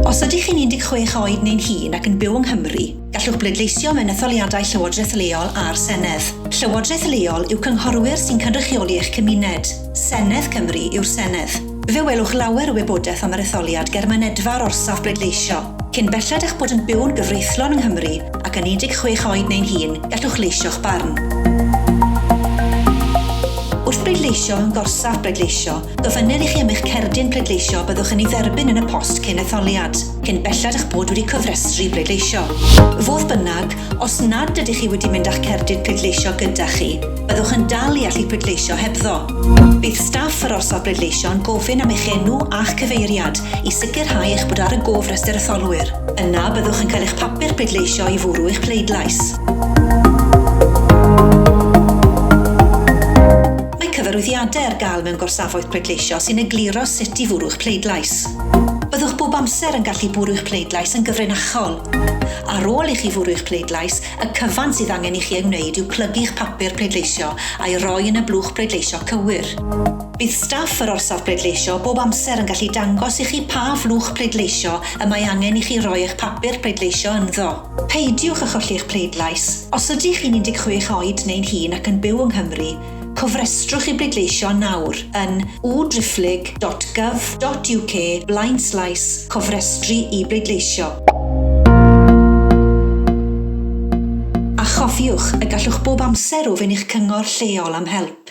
Os ydych chi'n 16 oed neu'n hŷn ac yn byw yng Nghymru, gallwch bleidleisio mewn etholiadau Llywodraeth Leol a'r Senedd. Llywodraeth Leol yw cynghorwyr sy'n cynrychioli eich cymuned. Senedd Cymru yw'r Senedd. Fe welwch lawer o wybodaeth am yr etholiad ger mynedfa'r orsaf bleidleisio. Cyn belled â'ch bod yn byw'n gyfreithlon yng Nghymru ac yn 16 oed neu'n hŷn, gallwch leisio'ch barn. Wrth bleidleisio mewn gorsaf bleidleisio, gofynnir i chi am eich cerdyn pleidleisio a byddwch yn ei dderbyn yn y post cyn etholiad, cyn belled â'ch bod wedi cofrestru i bleidleisio. Fodd bynnag, os nad ydych chi wedi mynd â'ch cerdyn pleidleisio gyda chi, Byddwch yn dal i allu pleidleisio hebddo. Bydd staff yr orsaf bleidleisio yn gofyn am eich enw a'ch cyfeiriad i sicrhau eich bod ar y gofrestr etholwyr. Yna, byddwch yn cael eich papur pleidleisio i fwrw eich pleidlais. cyfarwyddiadau ar gael mewn gorsafoedd pleidleisio sy'n egluro sut i fwrw'ch pleidlais. Byddwch bob amser yn gallu bwrw'ch pleidlais yn gyfrinachol. Ar ôl i chi fwrw'ch pleidlais, Y cyfan sydd angen i chi ei wneud yw plygu'ch papur pleidleisio a'i roi yn y blwch bleidleisio cywir. Bydd staff yr orsaf bleidleisio bob amser yn gallu dangos i chi pa flwch pleidleisio y mae angen i chi roi eich papur pleidleisio ynddo. Peidiwch â cholli'ch pleidlais. Os ydych chi'n 16 oed neu'n hŷn ac yn byw yng Nghymru, Cofrestrwch i bleidleisio nawr yn u-driphlyg.gov.uk blaenslaes cofrestru i bleidleisio. A chofiwch y gallwch bob amser ofyn i'ch cyngor lleol am help.